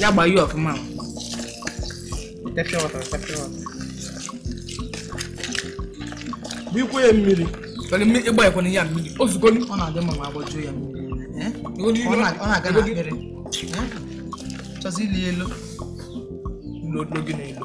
ya gbaa ya ọfụma bikwa ya mmiri ị gbakwunye ya mmiri ozugbo ọ na-adị mma ma agbajuo ya mmiri ọ na-aga na akpịrị chọzi ili elo n'oge na-elo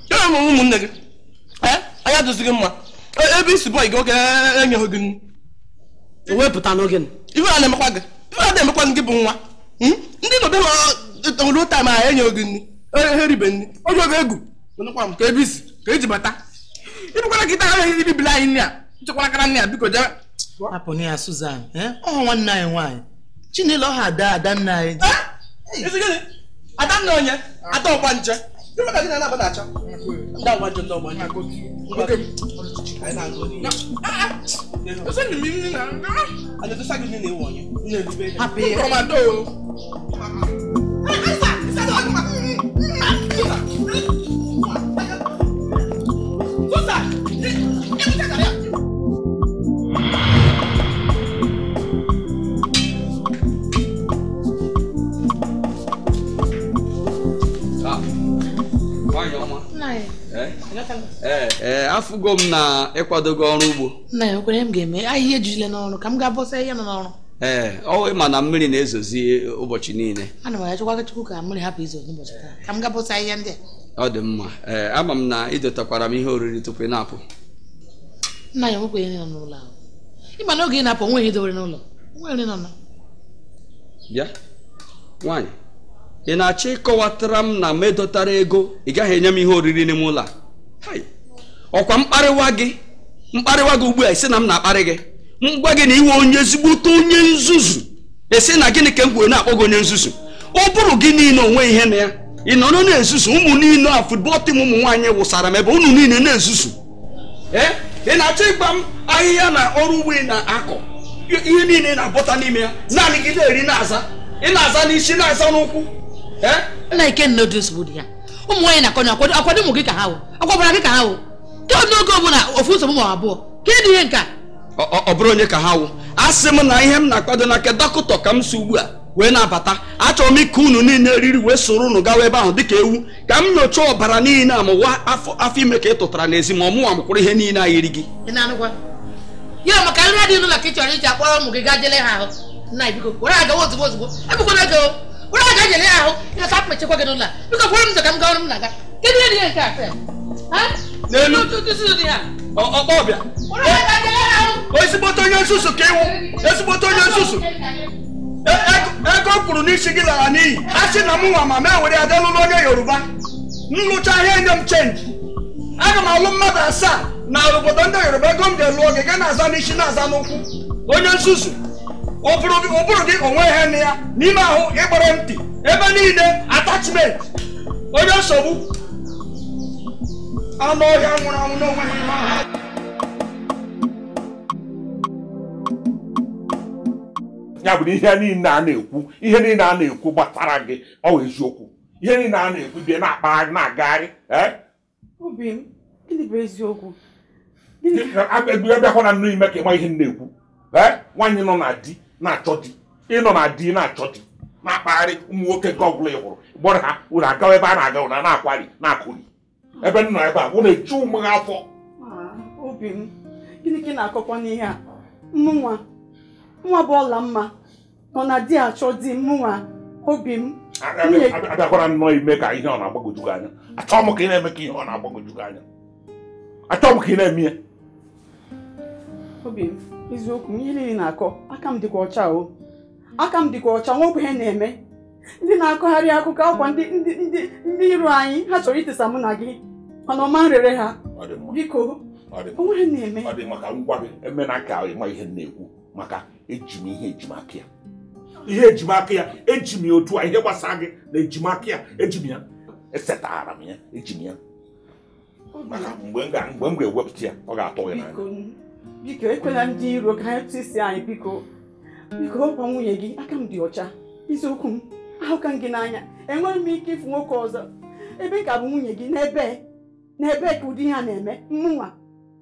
ya ma ụmụnne gị eh, anya dịzi gị mma e, ebe isi bọị gị oge enyeghị gị nri ewepụta n'oge ife a na-emekwa gị ife a na-emekwa gị bụ nwa hmm? ndị nọbe ha ruo taim ahụ enyeghị gị nri ha eribe nri oge oge egwu ka ebe isi ka eji bata ịbụkwara gị taa ahụ ebibila anyị nri a nchekwara kara nri a biko jebe hapụnụ ya Susan eh? ọ nwanne anyị nwaanyị Chinelo ha ada ada nna anyị eh? ada nna onye ada ọgbanje ndị ọgbanje ndị ọgbanje hapụ ya ee eh, afụgo m na ị kwadogo ọrụ ugbo nna ya kwere m ga-eme ahịhịa ejule n'ọrụ ka m gaa bọsa ihe nọ n'ọrụ ee ọ ị ma na mmiri na-ezozi ụbọchị niile ana m achọkwa chukwu ka mmiri hapụ izo n'ụbọchị taa ka m gaa bọsa ihe ndị a ọ dị mma ee ama m na ị dotakwara m ihe oriri tupu ị na-apụ nna ya nwekwa ihe nọ n'ụlọ ahụ ị ma na oge ị na-apụ o nweghị ihe i dowere n'ụlọ nwere nọ bịa nwaanyị ị na-achọ ịkọwatara m na m edotara ego ị gaghị enye m ihe oriri n'ime ụlọ a ọkwa m kparịwa gị m kparịwa gị ugbu a ị sị na m na-akparị gị m gwa gị na ị wụ onye ezigbote onye nzuzu ị sị na gịnị ka m ji wee na-akpọ gị onye nzuzu ọ bụrụ gị niile onwe ihe na ya ị nọrọ na-ezuzu ụmụ niile a football team ụmụ nwaanyị ị wụsara m ebe unu niile na-ezuzu ee ị na-achọ ịgba m ahịhịa na ọrụ ugbo ị na-akọ ihe niile ị na-abọta n'ime ya naanị gị na-eri na-aza ị na-aza n'isi na-aza n'ụkwụ ee nna kee ụdị nsogbu dị ihe a ụmụ nwaanyị na-akọ ọnụ ọkwadụ ọkwadụ ụmụ gị ka ha wụ ọkwa ọbara gị ka ha wụ ka ọ n'oge ọbụla ofu nsogbu ma abụọ kee ụdị ihe nke a ọbara onye ka ha wụ asị m na ihe m na-akwado na nke dọkịta ka m si ugbu a wee na-abata achọrọ m ike unu niile eriri wee soro unu gawa ebe ahụ dịka ewu ka m nyochaa ọbara niile a ma ọ wụ afọ ime ka ị tụtara n'ezi ma ọ mụwa mụkwụrụ ihe niile a yiri gị ya maka nri adịghị n'ụlọ ka ị chọrọ iji akpọrọ ụmụ gị gaa je lee ha ahụ nna biko were ha gawa ozugbo ozugbo egbukwana oge were ha gaa je lee ha ahụ ị lọta akpechekwa gị n'ụlọ biko kwere m ka m gawara m na-aga Kedu ihe dị ya nke a sef? Ha? N'elu. Otu ụtụtụ dị ya. Ọ- ọkpọ ọbịa Ụlọ ya ka dị ya ahụ. ezigbote onye nzuzu ka ị wụ ezigbote onye nzuzu E- ego- ego m kwụrụ n'isi gị lara n'iyi a sị na m nwa ma m ewere ya je lụrụ onye yoruba m lụcha ya e nye m chenji aga m alụ mmadụ asaa na obodo ndị yoruba ego m ga-elu oge gị na-aza n'isi na-aza n'ụkwụ onye nzuzu ụbụrụ gị ụbụrụ gị o nwe ihe nọ ya n'ime ahụ ị gbara ntị ebe niile attachment onye nsogbu anụ ọhịa nwụrụ anwụ n'onwe ha ime ahụ ya bụ na ihe niile a na-ekwu ihe niile a na-ekwu gbasara gị ọ wụ eziokwu ihe niile a na-ekwu bịa na-akpagharị na-agagharị obi m gịnị bụ eziokwu abịakwana nnọọ ime ka ị ma ihe m na-ekwu nwaanyị nọ na di na-achọ di ị nọ na di na-achọ di na-akpagharị ụmụ nwoke nke ọ bụla ị hụrụ kpọrọ ha unu agawa ebe a na-aga unu ana-akwari na-akụri ebe m nọ ebe a unu eju ụmụ ha afọ ah, obi m gịnị ka ị na-akọkwanụ ihe a mụnwa nwa bụ Ọlamma nọ na di achọ di mụnwa obi m abịakwala nnọọ ime ka ihe ọ na-agbagwoju gị anya achọọ m ka ị na-eme ka ihe ọ na-agbagwoju gị anya achọọ m ka ị na-eme ya obi m eziokwu m ihe niile ị na-akọ aka m dịkwa ọcha o aka m dịkwa ọcha o nwekwanụ ihe m na-eme ndị na-akọgharị akụkọ ọ kwa ndị ndị ndị ndị iro anyị ha chọrọ itisa mụ na gị mana ọ ma nrere ha biko o nweghị ihe m na-eme ọ dị maka ngwa gị emena ka ị ma ihe m na-ekwu maka eji m ihe eji m aka ya ihe eji m aka ya eji m ya otu a ihe gbasara gị na eji m aka ya eji m ya esetara m ya eji m ya maka mgbe m ga-ewepụta ya ọ ga-atụ gị n'anya biko ekwela ndị iro ka ha tisa anyị biko biko ọ kwa nwunye gị aka m dị ọcha eziokwu m ahụka m gị n'anya enweghị m ike ịfụ nwoke ọzọ ebe m ka bụ nwunye gị n'ebe n'ebe ka ụdị ihe a na-eme mụnwa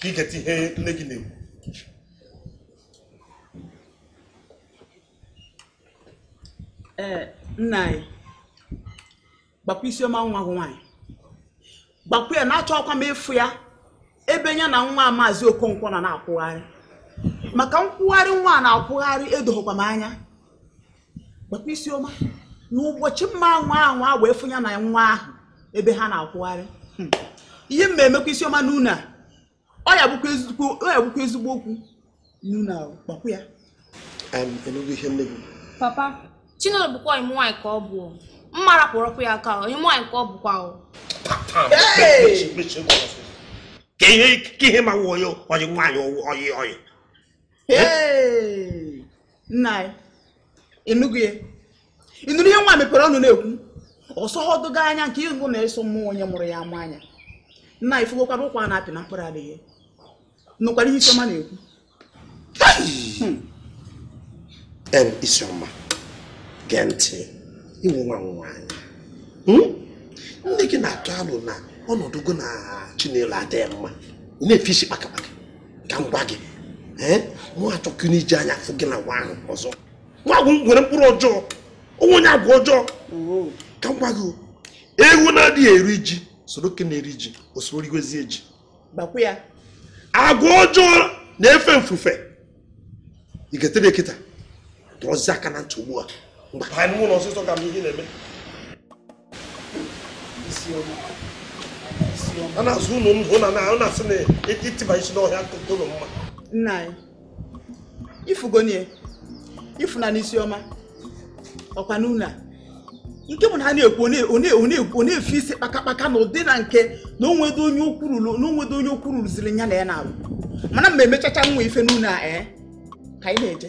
ka ị geta ihe nne gị na-ekwu ee nna anyị gwakwa isioma nwa gị nwaanyị gwakwa ya na achọkwa m ịfụ ya ebe ya na nwa maazị okonkwo nọ na-akwụgharị maka nkwụgharị nwa a na-akwụgharị edoghịkwa m anya gwakwa isioma na ụbọchị m ma-anwa anwa wee fụ ya na nwa ahụ ebe ha na-akwụgharị hmm. ihe m ma-emekwa isioma n'ụlọ a ọ ya-abụkwa ezigbo okwu n'ụlọ a gwakwa ya ị nụgo ihe nne gị papa chinelo bụkwa ọyị m nwaanyị ka ọ bụ mama rapụkwa ya aka ọyị m nwaanyị ka ọ bụkwa o ka ihe ma wụ onye ọyị nwaanyị ọyị ọyị Hey! nna anyị ịnụgo ya ịnụrụ ihe nwa mepere ọnụ na-ekwu ọ sọdụghị anya nke ịgụ na-asọ mụ onye mụrụ ya ama anya nna anyị fụgokwara ụkwa a na-apị na mkpụrụ adịghị nụkwara ihe Isiọma na-ekwu em Isiọma gee ntị ị wụ nwa nwaanyị Hmm? nne gị na-atụ alụ na ọnọdụ gị na Chinelo adịghị mma ị na-efe isi kpakakpaka ka m gwa gị mụ achọghị iji anya afụ gị na nwa ahụ ọzọ nwa ahụ nwere mkpụrụ ọjọọ ọ wụ onye agwa ọjọọ ka m gwa gị ewu na-adịghị eri ji soro nke na-eri ji o soro riwezie ji agwa ọjọọ na-efe mfufe ị ga-etere kịta dọzie aka na ntị ugbu a ngwa banye n'ụlọ ọsịsọ ka m ihe na-eme a na-azọ ụlọ ndụ ọ na-asị na ịtịba isi n'ọhịa akụkụ ụlọ mma nna anyị ị fụgonụ ya ị fụ na Isiọma ọkwa n'ụlọ a nke bụ na ha na-ekwu ọ na-efe isi kpakakpaka na ụdị na nke na o nwedo onye okwurulu ziri nya na ya na-arụ mana mgbe e mechacha nwa ife n'ụlọ a ee eh, ka anyị na-eje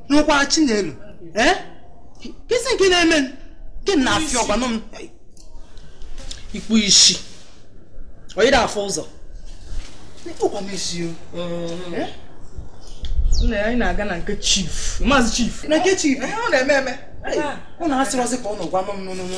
n'ụkwa Chinelo ee kee isi nke na-eme gị na afịa ọ gwanụ m ikpu isi onye na-afụ ụzọ ị kpọkwa m isi o nna ya anyị na-aga na nke chief maazị chief na nke chief ọ na-eme eme ọ na-asịrọzi ka ọ nọ gwanụ m nụnụnụ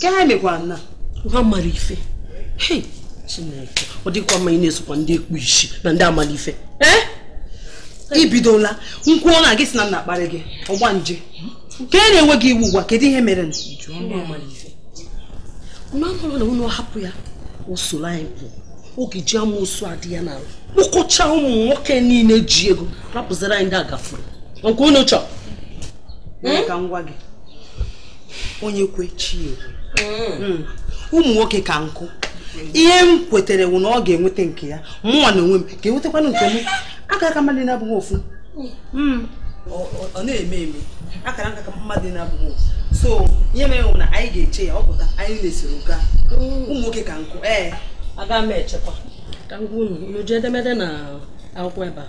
ka ha mekwa nna nwa mara ife Chineke ọ dịkwa mma ị na-esokwa ndị ikpu isi na ndị amara ife eh? i bidola nkwụ ọ na-agị si na m na-akparị gị ọgbanje ka e na-enwe gị iwu ugbu a kedu ihe mere na unu hapụ ya o soro anyị pụọ ọ ga-eji amusu a dị ya n'ala kpụkọcha ụmụ nwoke niile ji ego rapụziri anyị ndị agafuru nke unu chọrọ ka m gwa gị onye kwe chi ekwe hmm. Hmm. ụmụ nwoke ka nkụ ihe m kwetere wụ na ọ ga-enweta nke ya mụnwa na onwe m ga-enwetakwanụ nke m akaraka mmadụ na-abụghị ofu hmm. ọ na-eme eme akaraka mmadụ na-abụghị ofu so ihe mere wụ na anyị ga-eche ya ọ pụta anyị na-esoro gaa ụmụ nwoke ka nkụ ee aga m echekwa ka m gwa unu unu ji edemede na akwụkwọ ebe a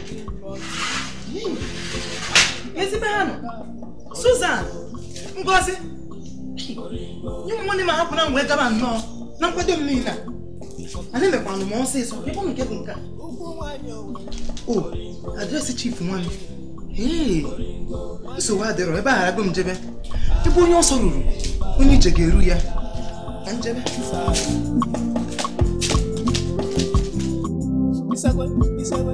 ezigbo ha nọ Susan Ngozi nye m nwanne m ahapụ na ngwa gabanụ na nkwado m niile a na-emekwanụ m ọsịsọ ebe ọ nke bụ nke a o address chief nwanne ee nsogbu adịrọ ebe agharago m jebe ebe onye ọsọ ruru onye ije ga-eru ya ka m jebe Isagwe, Isagwe.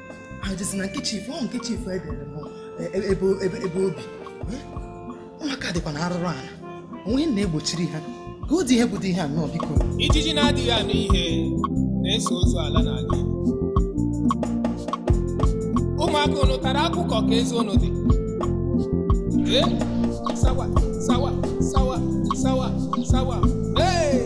ajụzi na nke chief ọ nke chief edere bụ e, e, ebe ebe ebe obi Eh? ụmụaka dịkwa na arụrụ ala onwe na-egbochiri ha ka ụdị ihe bụdị ihe a nnọọ biko ijiji na-adịghị anụ ihe na-eso ozu ala n'ala. ụmụaka unu tara akụ kọọ ka eze unu dị Ee, sawa sawa sawa sawa sawa ee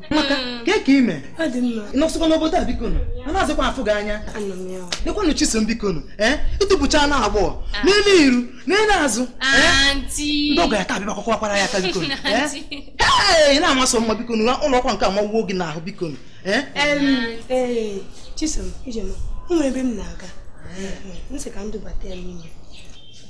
maka kee ka i me nọsịkwa n'obodo a biko a nazịkwa afụ gị anya lekwanụ chisom biko nụ ee i topụchaana agbọghọ ah. n'elu iru n'elu azụ ndị ọgọ ya taa bịa kwakwakwara ya aka biko ee na-amasị mma biko nụ ụlọ akwụkwọ nke a amawo gị n'ahụ biko nụ chisom ije m o nwere ebe m na-aga m sị ka m dubata ya n'ime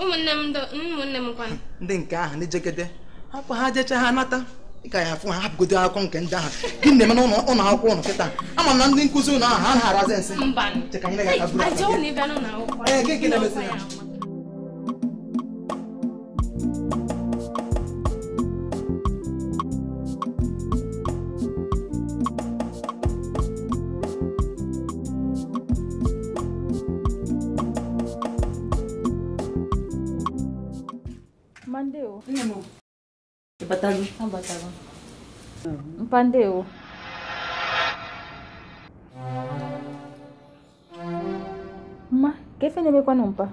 ụmụnne m ụmụnne m kwanụ ndị nke ahụ ndị jegede hapụ ha jecha ha nata ị ka ya-afụ ha hapụgodu akụkọ nke ndị ahụ gịnị na-eme n'ụlọ akwụkwọ unu kịta ama m na ndị nkụzi unu ahụ ha na-arazi nsị chee ka m nyere gị aka buru ee gịnị na-emezi ya Mpa ndewo. Mma, kee ife na-emekwanụ mpa?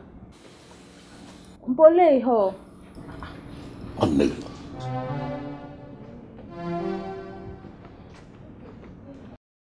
Mpa olee ihe ọ? Ọ nne gị.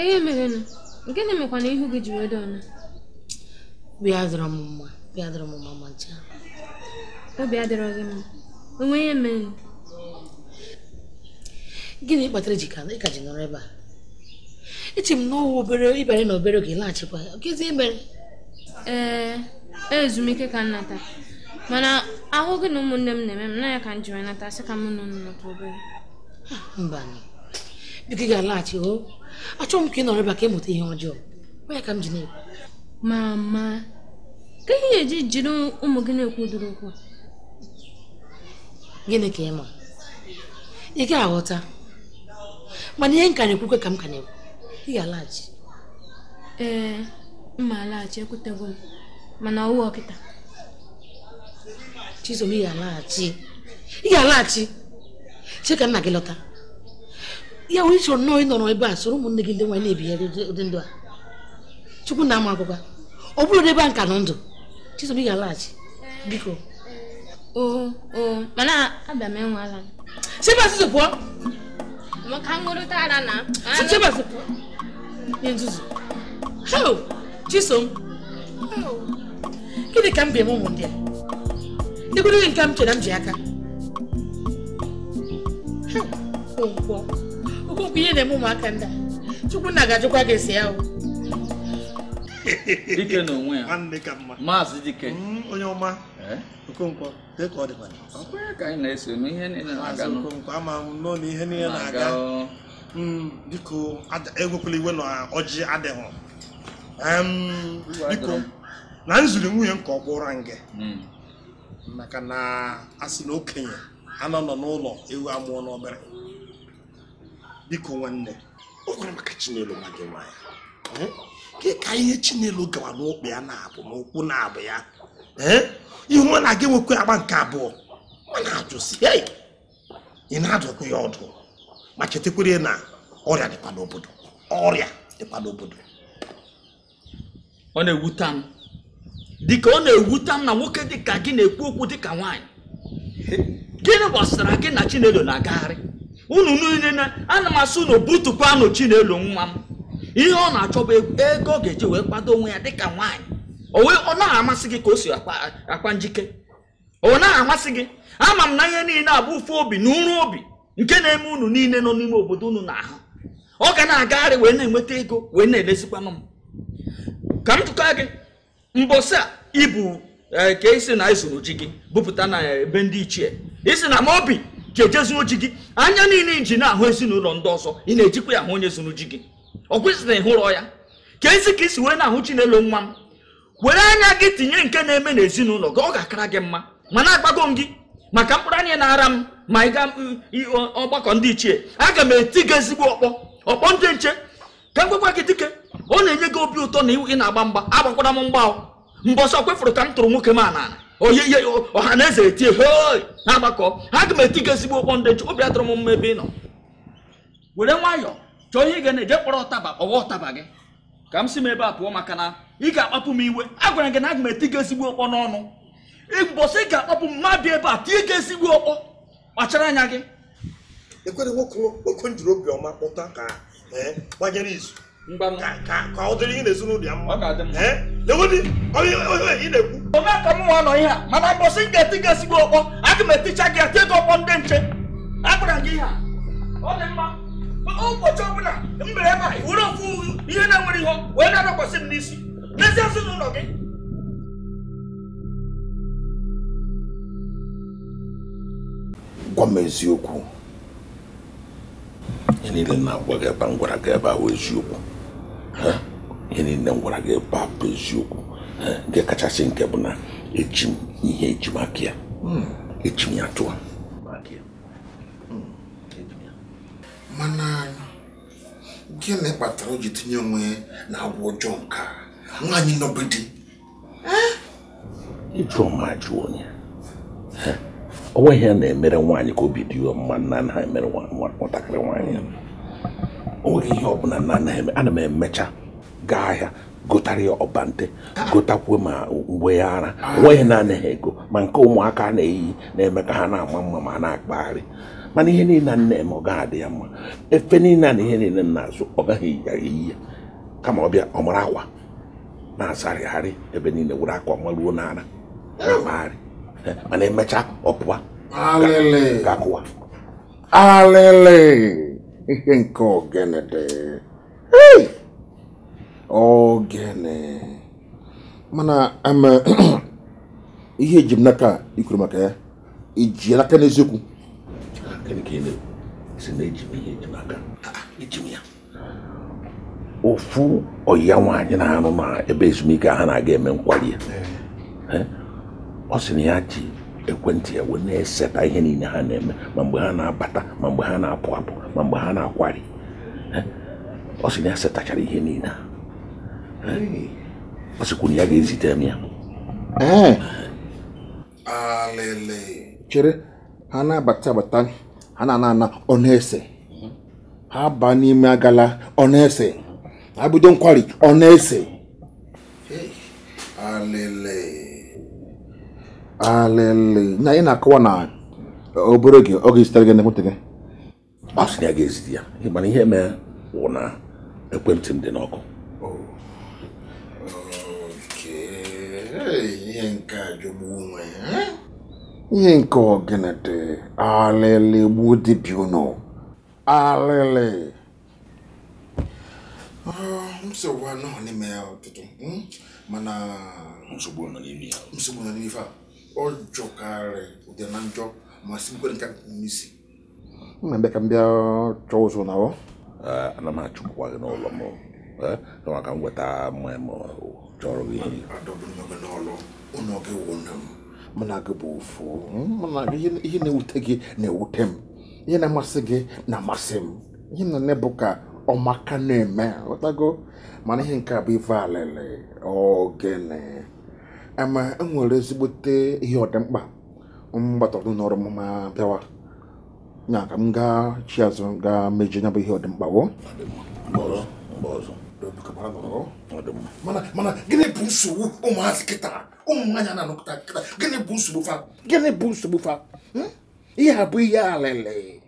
ihe merenụ gịnị mekwana ihu gị ji wee dị ọnụ obi adịrọ m mma obi adịrọ m mma ma ncha obi adịrọ gị mma o nwe ihe mere gịnị kpatara ji ka ị ka ji nọrọ ebe a eche m na ọ wụ obere ị bịara nọọ obere oge laghachikwa gịnị mere ee e, ezumike ka m nata mana ahụ gị na ụmụnne m na-eme m na ya ka m ji wee nata sị ka m na unu nọtụ obere mba biko ị ga-alaghachi o achọghị m ka ị nọrọ ebe a ka ị mụta ihe ọjọọ ọ ya ka m ji na-ekwu mama kee ihe i ji jiri ụmụ gị na-ekwu ụdịrị okwu gịnị ka ị ma ị ga-aghọta mana ihe m ka na-ekwukwe ka m ka na-ekwu ị ga-alaghachi ee mma alaghachi ekwutego m mana ọwụ ọkịta chisom ị ga-alaghachi ị ga-alaghachi che ka nna gị lọta ya wee chọrọ nnọọ ịnọrọ ebe a soro ụmụnne gị ndị nwaanyị na-ebigharị ụdị ndụ a chukwu nna ama ekwekwa ọ bụrụ ebe a m ka nọ ndụ chisom ị ga-alaghachi biko oo oo mana abịa m enwala si ebe a pụọ maka nṅụrịta ara na si ebe a pụọ onye nzuzu heo chisom gịnị ka m ga-eme ụmụ ndị a dịkwuru nke m chere m ji aka okonkwo okonkwo ihe na-eme ụmụaka ndị a chukwu nna ga-ajụkwa gị ese ya o dike na onwe ya maazị dike mm, onye ọma eh? okonkwo ka ọ dịkwa ọkwanye ka anyị na-eso na ihe niile na-aga okonkwo ama m nọ na ihe niile na-aga mm, biko ewekwala iwe na ọjị adịghị biko na m ziri nwunye m ka ọ gwụra nge mm. maka na a sị na okenye anaghị anọ n'ụlọ ewu amụọ n'ọgbịrị biko nwanne o kwere maka chinelo nwa gị nwaanyị ka ihe chinelo gawa n'ụkwụ ya naabọ n'ụkwụ naabọ ya ihe ọ na-aga enwekwa agba nke abụọ m na-ajụ sị ị na-adụkwa ya ọdụ ma chetakwere na ọrịa dịkwa n'obodo ọrịa dịkwa n'obodo ọ na-ewuta m dịka ọ na-ewuta m na nwoke dịka gị na-ekwu okwu dịka nwaanyị gịnị gbasara gị na chinelo na-agagharị unu niile na ana m asị unu butukwanụ chinelo nwa m ihe ọ na-achọ bụ ego ego ọ ga-eji wee kwado onwe ya dịka nwaanyị o wee ọ naghị amasị gị ka o si akwa njike ọ naghị amasị gị ama m na ihe niile a bụ ụfụ obi na ụrụ obi nke na-eme unu niile nọ n'ime obodo unu na-ahụ ọ ga na-agagharị wee na-enweta ego wee na-elezikwanụ m ka m jụkwa gị mbọsị a ịbụ e, ka ị sị na e zuru ji gị bupụta na ebe ndị ichie ị sị na ma obi ka eje zuo ji gị anya niile i ji na-ahụ ezinụlọ ndị ọzọ ị na-ejikwa ya ahụ onye zuru ji gị ọ kwesịrị ịhụrọ ya ka ezi ka i si wee na-ahụ chinelo nwa m were anya gị tinye nke na-eme n'ezinụlọ gị ọ ga-akara gị mma mana agbago m gị maka mkpụrụ anya na-ara m ma ị ga ọgbakọ ndị ichie aga m eti gị ezigbo ọkpọ ọkpọ ndị nche ka m gwakwa gị dike ọ na-enye gị obi ụtọ na ị na-agba mgba agbakwara m mgba mbọsị kwefụrụ ka m tụrụ nwoke m anana oye ihe ọha na eze etie hoi na-agbakọ aga m eti gị ezigbo ọkpọ ndị nche obi adịrọ m mma ebe ị nọ were nwayọọ chọọ ihe ị ga na-eje kpọrọ ụtaba ọwa ụtaba gị ka m si m ebe a pụọ maka na ị ga-akpapụ m iwe agwara gị na aga m eti gị ezigbo ọkpọ n'ọnụ mbọsị ị ga-akpapụ m m abịa ebe a tie gị ezigbo ọkpọ kpachara anya gị ekwere nwoke oke m jiri obiọma kpọta ka eh, gbanyere izu ka ọ dịrị ihe n'ezinụlọ ya mma lewedi onye ị na-ekwu ome ka mụnwa nọ ihe a mana mbọsị m ga-eti gị ezigbo ọkpọ aga m eticha gị eti gị ọkpọ ndị nche agwara gị ihe a ọ dị mma ụbọchị ọbụla m bere ebe a were ofu ihe na-enwere ihe wee na-adakwasị m n'isi n'ezi ezinụlọ gị gwa m eziokwu ihe niile na-agwa gị ebe m gwara gị ebe a bụ eziokwu ihe niile m gwara gị ebe a bụ eziokwu nke kachasị nke bụ na eji m ihe eji maka ya eji m ya tụọ mana gịnị kpatara o ji tinye onwe ya na agwa ọjọọ nke a nwaanyị nọ be di ị jụ m m ajụ onye o nweghị ihe a na-emere nwaanyị ka obi dị ya mma m na-anaghị emere nwatakịrị nwaanyị o nweghị ihe ọ bụla m na-anaghị eme ana m emecha gaa ahịa gotara ya ọbante gotakwuo ma uwe ya ara o nweghị ihe m na-anaghị ego ma nke ụmụaka na-eyi na-eme ka ha na-ama mma ma na-akpagharị mana ihe niile m na-eme ọ gaghị adị ya mma efe niile na ihe niile m na-azụ ọ gaghị eyi ya kama ọ bịa ọ mara akwa na-asarịgharị ebe niile were akwa maruo n'ara na-akpagharị mana emechaa ọ pụọ ga-akụwa alele ihe nke ogene dị ogene mana ihe eji m n'aka i kwuru maka ya i ji n'aka n'eziokwu sị na eji m ihe eji n'aka eji m ya ofu ọya nwaanyị na-arụ na ebe ezumike ha na-aga eme nkwari ya eh. ọ sị na ya ji ekwentị ya wee na-eseta ihe niile ha na-eme ma mgbe ha na-abata ma mgbe ha na-apụ apụ ma mgbe ha na-akwari ọ sị na ya setachara ihe niile ọ sịkwu na ya ga-ezite m ya alele chere ha na-abata abata ha na-ana ana ọ na-ese ha baa n'ime agala ọ na-ese ha bido nkwari ọ na-ese alele alele na ị na-akọwa na obere oge ọ ga-ezitere gị n'ekwentị gị ọ sị na ya ga-ezite ya mana ihe mee wụ na ekwentị m dị n'ọkụ ihe nke a jọgbu onwe ihe nke ọgịnị dị alịlị gbuo dibịa ụnụ alịlị nsogbu anọ n'ime ya ọtụtụ hmm? mana nsogbu nọ n'ime ya nsogbu nọ n'ime ife a ọ jọkarị udele na njọ ma sikarị nkakwụ n'isi na-abịa ka m bịa chọọ ụzọ na ọ ana m achụpụkwa gị n'ụlọ m kama ka m weta mmanya m chọrọ gị nwunye m mụ na gị bụ ofu ihe na-ewute gị na-ewute m ihe na-amasị gị na-amasị m ihe m na-eme bụ ka ọmaka na-eme ghọtago mana ihe nke a bụ ife alele ogene ama enwere ezigbote ihe ọdịmkpa m gbatọrọ n'ụlọ ọrụ m ma bịawa nya ka m gaa chie azụ gaa mejie nya bụ ihe ọdịmkpa woo mana gịnị bụ nsogbu ụmụazị kịta ụmụ nwaanyị na-anọkọta kịta gịnị bụ nsogbu fa gịnị bụ nsogbu fa hmm? ihe a bụ ihe alele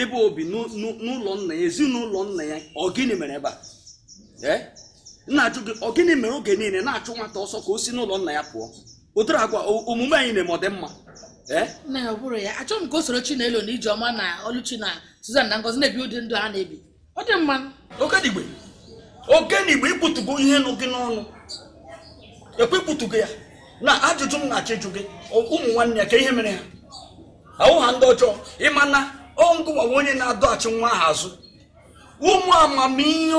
ebe o bi n'ụlọ nna ya ezinụlọ nna ya ọ gịnị mere ebe a ee na-ajụ gị ọ gịnị mere oge niile na-achụ nwata ọsọ ka o si n'ụlọ nna ya pụọ ụdịrị agwa omume anyị na-eme ọ dị mma ee nna ya ọ bụrụ ya achọghị m ka o soro Chinelo na Ijeọma na Oluchi na Suzan na Ngozi na-ebi ụdị ndụ ha na-ebi ọ dị mma okenigbe okenigbe i kwupụtago ihe nọ gị n'ọnụ eekwa i kwupụtago ya na ajụjụ m na-achọ ịjụ gị ụmụ nwanne ya kee ihe mere ha awụ ha ndị ọjọọ ị ma na ọ ngịwa wụ onye na-adọghachi nwa ahụ azụ ụmụ amamihe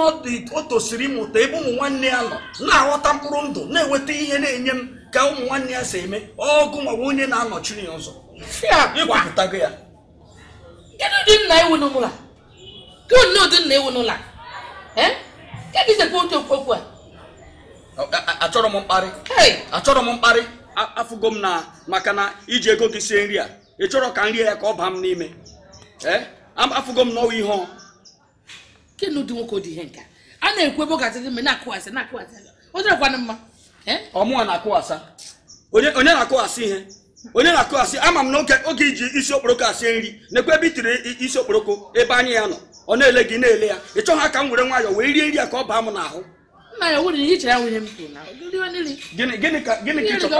o tosiri ịmụta ebe ụmụ nwanne ya nọ na-aghọta mkpụrụ ndụ na-enweta ihe na-enye m ka ụmụ nwanne ya si eme ọ gịwa wụ onye na-anọchiri ya ụzọ i kwupụtago ya kedu ụdị nna ị wụ n'ụlọ kedu ụdị nna ị wụ n'ụlọ kedụzịkwa otu okwu a achọrọ m mkparị achọrọ m mkparị afụgo m na maka na i ji ego gị sie nri a ị chọrọ ka m rie ya ka ọ baa m n'ime afụgo m na ọ wụ ihe kedu ụdị nwoke dị ihe nke a na-ekwu ebe ọ ga-adị gị mma na-akụghasị na-akụghasị ọ dịrịkwana mma ọ mụwa na-akụghasa onye na-akụghasị ihe onye na-akụghasị ama m na oge i ji isi okporoko esi nri nekwa ebe i tiri isi okporoko ebe anya ya nọ ọ na-ele gị na-ele ya ị chọghị ka m were nwayọọ wee rie nri a ka ọ baa m n'ahụ gịnị ka ị chọrọ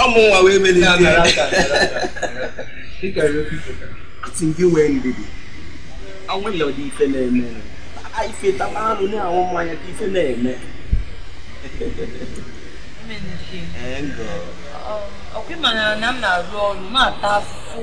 ọ mụnwa wee mere asị m gị nwee ndidi o nwere ụdị ife na-eme ife taba anụ na-anwụ mmanya ka ife na-eme ọkwa ị mara na m na-arụ ọrụ na-ata afụfụ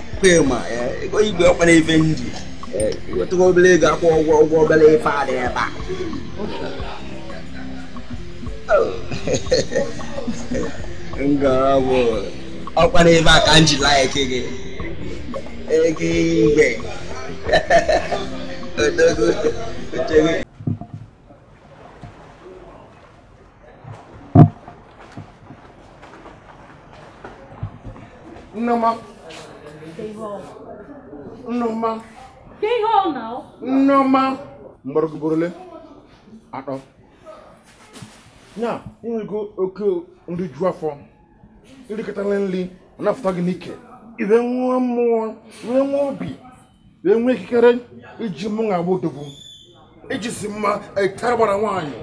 ma eh, ego igwe ọkwa na ife m ji eh, wetụkwa obere ego akwụ ụgwọ ụgwọ obere ife a dị ebe a ngara bụ ọkwa na ebe a ka m ji like gị ego igwe odogo oche gị Nneọma. Nneọma. Nneọma. M kpọrọ gị ugboro ole? Atọ. Ya, ị nwego oke nri ju afọ. I rikatala nri, ọ na-afụta gị n'ike. I wee nwee mmụọ, i wee nwee obi. wee nwee ikikere iji mụ na-agba odogwu iji isi m etara gbara nwaanyị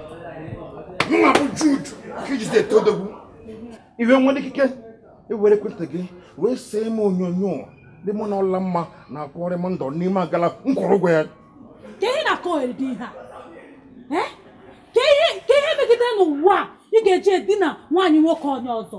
mụwa bụ jude ka i ji isi ete odogwu i wee nwee ikike iwere ekwentị gị wee see m onyonyo dị mụ na ọlamma na-akpori ndụ n'ime agala m kwụrụ ụgwọ ya kee ihe na-akọ ohere dị ihe a Eh? kee ihe kee ihe megide n'ụwa a ị ga-eji edina nwaanyị nwoke onye ọzọ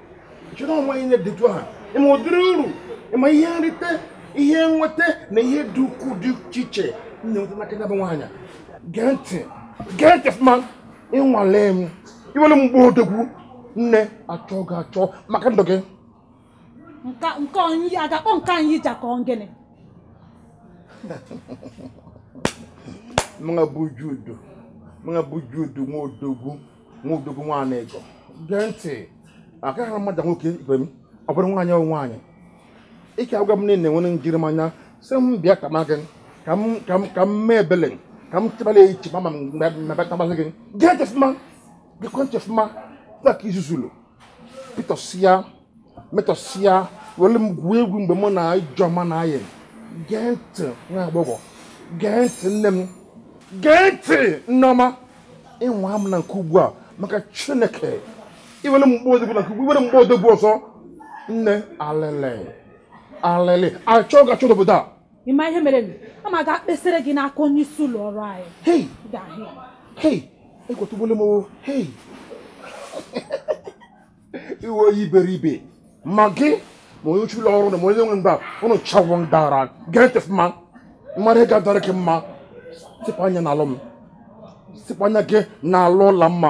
chọrọ onwe ihe dịtụ ha ị ma ụdịrị uru ị ma ihe nrite ihe nweta na ihe dị ukwuu dị iche iche m na-enweta n'aka ya bụ nwaanyị gee ntị gee ntị ọfụma ị nwalee m i were m gbaa odogwu nne a chọọ gị achọ maka ndụ gị nke onye a ga-akpọ nke anyị ji akọ gịnị mụwa bụ jude mụwa bụ jude nwa odogwu nwa odogwu nwaanyị ego gee ntị aka ha mmadụ nwoke ibe m ọ bụrụ nwaanyị ọ nwaanyị ike agwa m niile nwere njirimanya sị m bịa ka ma gị ka m ka m ka m mee ebele ka m chebala echi ma ma m mebe tamasị gị gee ntị ọfụma geekwa ntị ọfụma ka i zuzulu metọsịa metọsịa were m gwuo egwu mgbe mụ na ijeọma na-ayị gee ntị nwa agbọghọ gee ntị nne m gee ntị nneọma ị nwaa m na nke ugbu a maka chineke i were m gbaa odogwu na nke ugbu i were m gbaa odogwu ọzọ nne alele alele a chọọ gị achọ n'obodo a ị ma ihe mere m ama aga kpesara gị n'aka onye isi ụlọ ọrụ anyị hei egwu atụgbuole m hei ị wụ onye iberibe ma gị ma onye ishi ụlọ ọrụ na ma onye nwe mba ụnụ cha wụ ndị ara gee ntị ma ị ma ihe ga-adịrị gị mma sịpụ anya n'alụ m sịpụ anya gị n'alụ ụla mma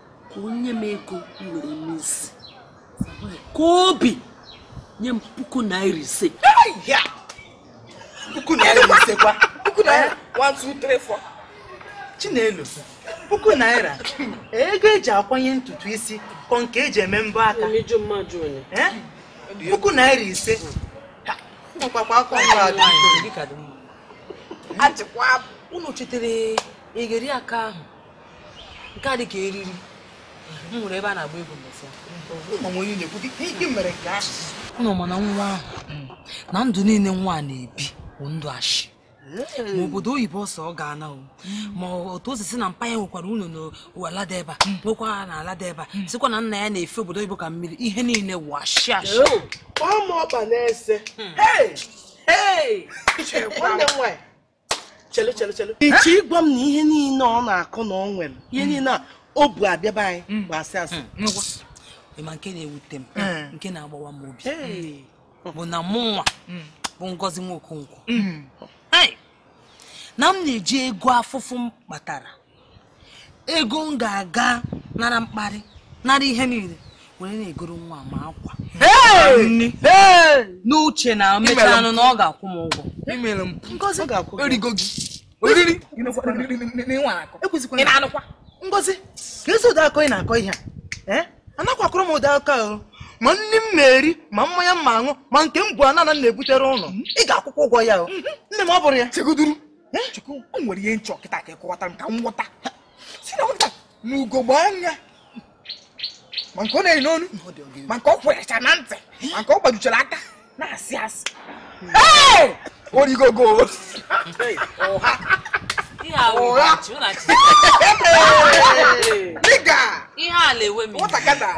ka o nye m ego m were mee isi ka obi nye m puku naira ise puku naira ise kwa puku naira 1 2 3 4 chinelo puku naira ego eji akwanye ntutu isi ka ọ nke eji eme mbọ aka puku naira ise ọkpakwa akọ nwa adịghị unu chetere elekere aka ahụ nke a dị ka eriri m hụrụ ebe a na-agba egwu mbọsị ụnụ ma na nwa ahụ na ndụ niile nwa a na-ebi bụ ndụ ashị ma obodo oyibo ọ sị ọ ga-ana o ma otu o si sị na mpa ya nwekwara ụlọ n'ala dị ebe a nwekwa n'ala dị ebe a sịkwa na nna ya na-efe obodo oyibo ka mmiri ihe niile wụ ashị ashị ọma ọkpa na-ese nwanne m nwaanyị chelu chelu chelu ị chọ ịgwa m na ihe niile ọ na-akọ na ọ nwere ihe hmm. niile a o bu abịa be anyị hmm. bụ asị asị hmm. ma nke na-ewute m nke na-agbawa m obi bụ na mụnwa bụ ngozi nwa okonkwo na m na-eji ego afụfụ m kpatara ego m ga-aga nara mkparị nara ihe niile were na-egoro nwa ma akwa n'uche na emechaanụ na ọ ga-akwụ m ụgwọ imere m ngozi e rigo gị oriri ị na-anụkwa ngozi kezi ụdị akụkọ ị na-akọ ihe a eh? anakwa akọrọ m ụdị akụkọ ahụ ma nni m na-eri ma mmanya m na-aṅụ ma nke m bu ana ana na-ebutere unu ị ga-akwụkwa ụgwọ ya nne m ọ bụrụ ya chukwu o nwere ihe m chọ kịta ka ị kọwata m ka m ghọta ị sị na nwata a ma ugogbe anya ma nke ọ na-eyi n'onu ma nke ọ kwerecha na ntị ma nke ọ gbajuchara aka na-asị asị origogo ụgha dịga iwe na-ewe m nwatakata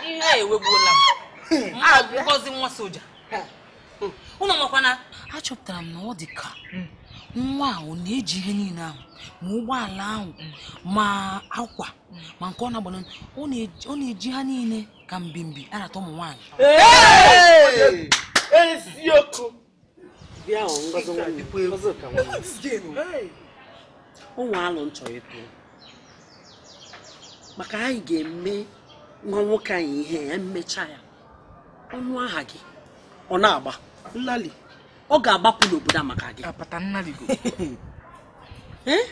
iwe ewegbuola m ngozi nwa soja ụnụ makwa na achọpụtara m na ọ dị ka hmm. nwa ahụ na-eji ihe niile ahụ ma ụgbọala ahụ hmm. ma akwa hmm. ma nke ọ na-agbana ọ na-eji ha niile ka mbimbi arata ụmụ nwaanyị eziokwu bịa ngozi nwanne ngozi ka nwanne o nwe alo m chọrọ ịtụ maka anyị ga-eme nwa nwoke anyị ihe ya mmecha ya ọ nụ aha gị ọ na-agba nnali ọ ga-agbapụ n'obodo a maka gị apata nnali go Eh?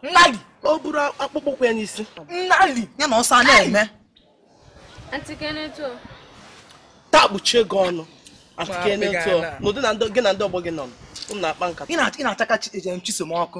nnali o buru akpụkpọ ụkwụ ya n'isi nnali ya na ọsọ a na-eme Auntie Kenneth o. taa kpuchie gị ọnụ Auntie Kenneth o n'ụdị na ndị- gị na ndị ọgbọ gị nọ unu na-akpa nkata ị na- ị na-achaka chi- ejem chisom ọkụ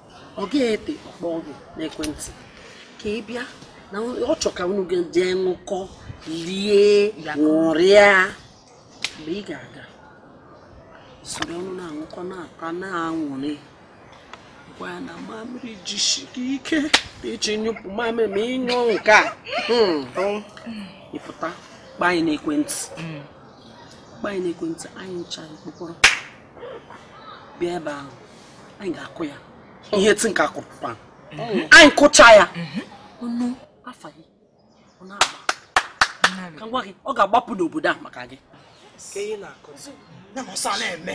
ọ gaghị ete ọ kpọọ gị n'ekwentị ka ị bịa na ọ chọ ka unu jee ṅụkọ lie ṅụrịa mgbe ị ga-aga soro unu na-aṅụkọ na-ata na-aṅụrị gwa ya na mamịrị jisi gị ike ị je nyụpụ mamịrị ma ị nyụ nke a hmm. ị pụta kpọọ anyị n'ekwentị kpọọ anyị n'ekwentị anyị ncha ekpokọrọ bịa ebe ahụ anyị ga-akụ ya ihe ti nke a kụrụ pan anyị kụcha ya ọ nụ afa gị ọ na-agba ka m gwa gị ọ ga-agbapụ n'obodo a maka gị na-eme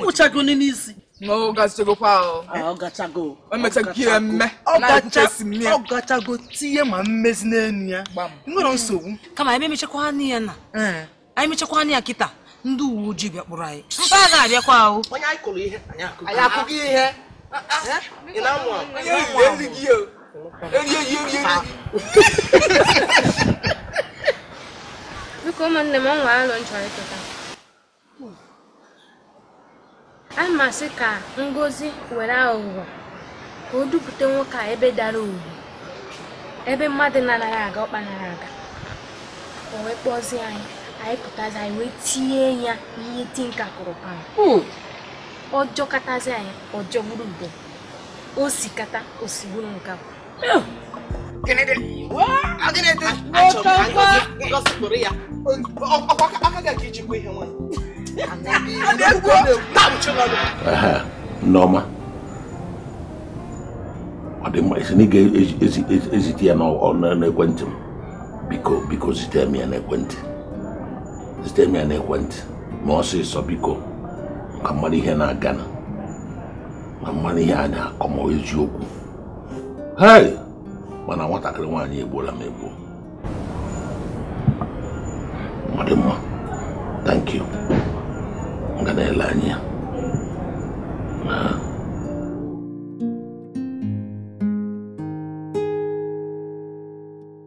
ụchagoni n'isi ọ gachago tinye ma mmezi n'elu ya nwerọ nsogbu kama anyị emechakwanụ ya na anyị mechakwanụ ya kịta ndị uwe ojii bịa kpụrụ anyị mba a ga-abịakwa ahụ onye anyị kụrụ ihe anyị akụghị ihe biko ụmụnne m o nwere alo m chọrọ ịtụta a m asị ka ngozi were aghụghọ ka o dupụta nwoke a ebe dara ugwu ebe mmadụ na-anaghị aga ọkpa nara aga o wee kpọzie anyị anyị pụtazi anyị wee tie ya ihe ti nke a kụrụ pan ọ jọkatazi anyị ọ jọgburu ude o sikata o sigburu nkakwụ Nneọma ọ dị mma ị sị na ị ga-ezite ya n'ekwentị m biko biko zite m ya n'ekwentị zite m ya n'ekwentị m ọsịsọ biko ka m mara ihe na-aganụ ka m mara ihe a na-akọ ma eziokwu hei mana nwatakịrị nwaanyị egbuola m egbuo m ọ dị mma thank you m ga na-ele anya ya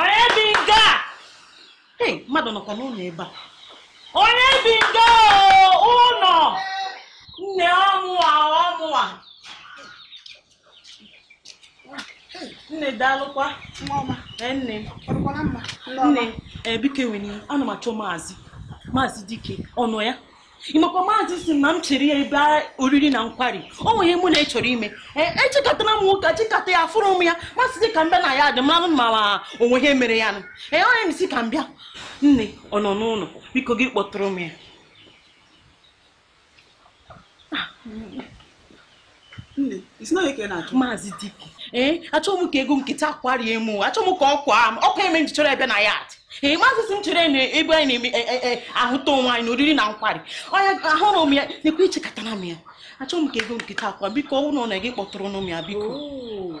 onye bi nga hey mmadụ nọkwa n'ụlọ ebe a onye bi nga ụlọ nne ọ mụwa ọ mụwa nne daalụkwa nne nne biko ewena ana m achọ maazị maazị dike ọ nọ ya ịmakwa maazị si na m chere ya ebe oriri na nkwari o nwe ihe mụ na ya chọrọ ime echekatara m nwoke chekata ya afụrọ m ya m asịzi ka m bịa na yard m maranụ ma o nwe ihe mere ya nụ ee onye m si ka m bịa nne ọ nọ n'ụlọ biko gị kpọtụrụ m ya Nne, ị sị onye ka ị na-achọ? Maazị Dike, ee, eh, achọghị m ka ego nkịta kwarie m, achọghị m ka ọ kwaa m, ọkwa ihe me m ji chọrọ ya bịa na yard. Ee, eh, maazị si m chere na ebe anyị na-eme eh, ahụta onwe anyị na oriri na nkwari. Onye ahụrọ m ya, nekwa echekatara m ya. Achọghị m ka ego nkịta akwa, biko ọ bụrụ na ọ nọ ya gị kpọtụrụ m ya, biko. Oh.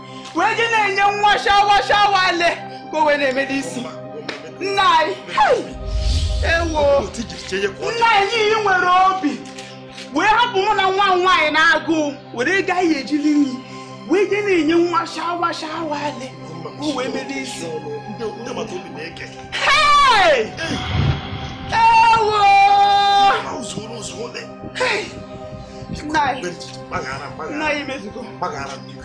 wee je na-enye nwa ashawo ashawo ale ka o wee na-eme n'isi nna anyị hei, ewo nna anyị i nwere obi wee hapụ mụ na nwa m nwaanyị n'agụụ were ego anyị ji eli nri wee je na-enye nwa ashawo ashawo ale ka o wee mee n'isi Hey! Ewo! Hey! Nna anyị, nna anyị mezugo.